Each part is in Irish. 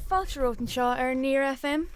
Fáilte romhat anseo ar Near FM.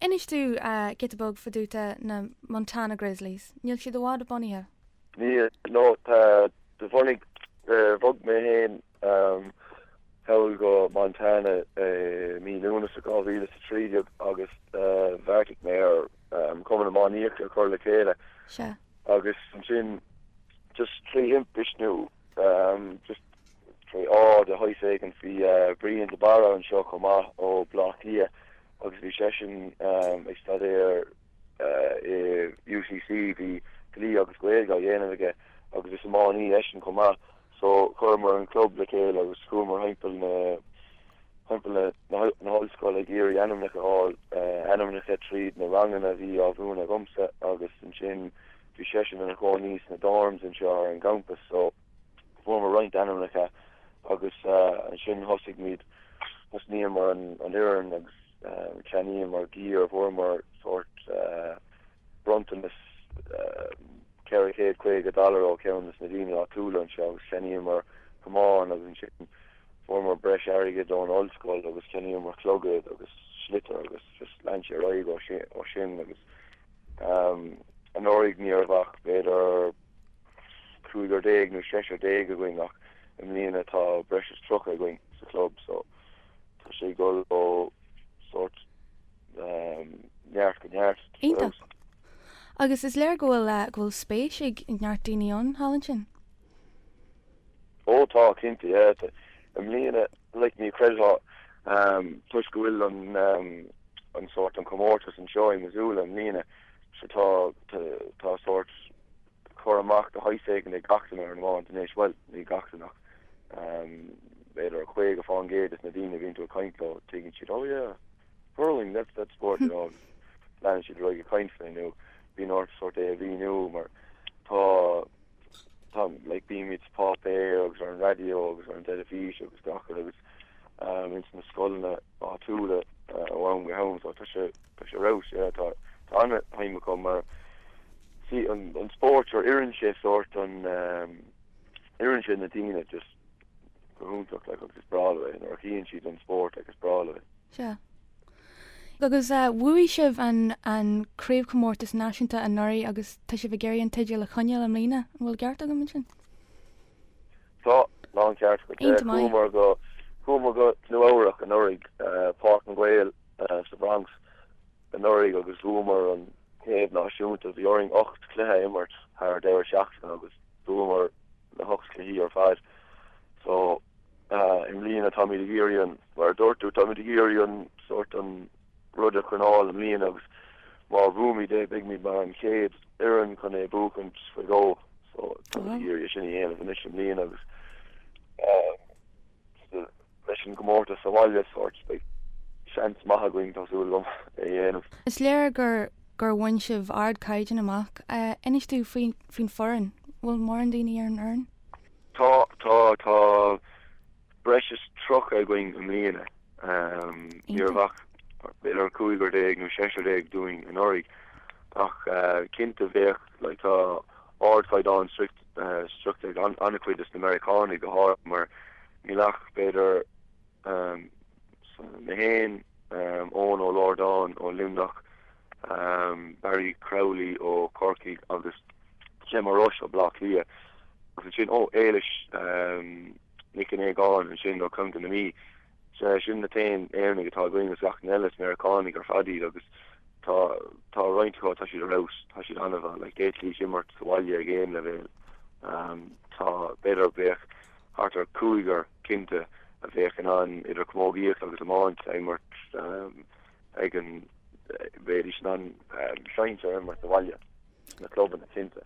Inis dúinn giota beag fá dtaobh de na Montana Grizzlies. Níl siad i bhfad bunaithe. Níl, nó, tá, do bhunaigh, bhog mé fhéin thall go Montana i mí Lúnasa 2013 agus bheartaigh mé ar Chumann Iománaíochta a chur le chéile. Sea. Agus ansin just trí thimpist nó just. de shaghas éigint. Bhí Brian de Barra anseo chomh maith, ó Bhaile Átha Cliath, agus bhí seisean ag staidéar i UCC, bhí Dlí agus Gaeilge á dhéanamh aige, agus is iománaí eisean chomh maith. So, chuireamar an club le chéile agus chuamar thimpeall na, thimpeall na hollscoile ag iarraidh ainmneacha a fháil, ainmneacha tríd na ranganna a bhí á mhúineadh agamsa, agus ansin bhí seisean ina chónaí sna dorms anseo ar an gcampas, so. fuaireamar roinnt ainmneacha agus ansin thosaigh muid thosnaíomar an an fhoireann agus cheannaíomar gear fuaireamar sórt bronntanas ceithre chéad caoga dollar ó cheann des na daoine áitiúla anseo agus cheannaíomar camáin agus ansin fuaireamar breis airgid ón ollscoil agus cheannaíomar clogaid agus sliotair agus just lean sé ar aghaidh ó shin agus anuraidh ní raibh ach b'fhéidir cúigear déag nó seisear déag againn ach i mbliana tá breis is tríocha againn sa chlub so tá sé ag dul ó sórt neart go neart. Iontach. Agus is léir go bhfuil eh, go bhfuil spéis ag neart daoine ann, thall ansin? Ó tá, cinnte, yeah. I mbliana, like, ní chreidfeá um, toisc go bhfuil an, um, an sórt an comórtas anseo i Missoula i mbliana, Sea, tá, tá sórt cur amach de shaghas éigin ag gach duine ar an iomáint anois, bhuel, ní gach duine ach ehm b'fhéidir caoga fán gcéad des na daoine a bhíonn tú ag caint leo, tuigeann siad, Ó yeah, hurling, that's, that's sport, you know, leanann siad ar aghaidh ag caint faoi nó bíonn ort sórt é a mhíniú mar tá tá like bímid sa páipéar agus ar an raidió agus ar an teilifís agus gach rud agus ehm ins na scoileanna áitiúla ó am go ham so tá sé tá sé raus yeah tá tá ana shuim acu mar is é an an spórt seo oireann sé sórt an ehm oireann sé na daoine just go hiontach like agus is breá leo é nuair a chíonn siad an spórt like is breá leo é. Sea. Agus bhuaigh sibh an an Craobhchomórtas Náisiúnta anuraidh agus tá sibh ag iarraidh an teideal a choinneáil i mbliana, an bhfuil ceart agam ansin? Tá, tá an ceart agat. Iontach maith. Chuamar go chuamar go Nua-Eabhrac anuraidh, Páirc na nGael sa Bhronx. Anuraidh agus bhuamar an Craobh Náisiúnta, bhí orainn ocht cluiche a imirt thar deireadh seachtaine agus bhuamar na hocht cluichí ar fad. So i mbliana táimid ag iarraidh an, mar a dúirt tú táimid ag iarraidh an sórt an rud a choinneáil i mbliana agus má bhuaimid é beidhmid mar an chéad fhoireann chun é buachaint faoi dhó so táimid ag iarraidh sin a dhéanamh anois i mbliana agus leis an gcomórtas sa bhaile sórt, beidh seans maith againn, tá súil agam, é a dhéanamh. Is léir gur gur bhain sibh ardchaighdeán amach. Inis dúinn faoin faoin foireann. Bhfuil mórán daoine ar an fhoireann? Tá, tá, tá breis is tríocha againn i mbliana. Ní raibh ach b'fhéidir cúigear déag nó seisear déag dúinn anuraidh ach cinnte bheadh like tá ardchaighdeán sroichte ag an-chuid de na Meiriceánaigh go háirithe mar Níl ach, b'fhéidir, mé féin, Eoghan Ó Riordáin ó Luimneach, Barry Crowley ó Chorcaigh agus Gemma Rush ó Bhleá Cliath agus ansin, ó, Éilis Nic Aogáin ansin ó Chontae na Mí. Sea, sin na t-aon Éireannaigh atá againn agus gach n-eile is Meiriceánaigh ar fad iad agus tá, tá roinnt acu, tá siad ar fheabhas, tá siad an-mhaith, like, d'fhéadfaidís imirt sa bhaile ag aon leibhéal. Tá, b'fhéidir, bheadh. Thart ar chúigear, cinnte, a bheadh in ann idir chamógaíocht agus iomáint a imirt ag an, bheidís in ann sinsear a imirt sa bhaile, sna clubanna, cinnte.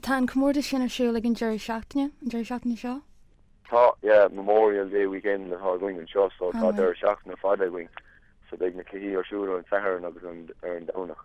Tá an comórtas sin ar siúl ag an deireadh seachtaine, an deireadh seachtaine seo? Tá, yeah, Memorial Day Weekend atá againn anseo so tá deireadh seachtaine fada againn so beidh na cluichí ar siúl ar an Satharn agus ar an Domhnach.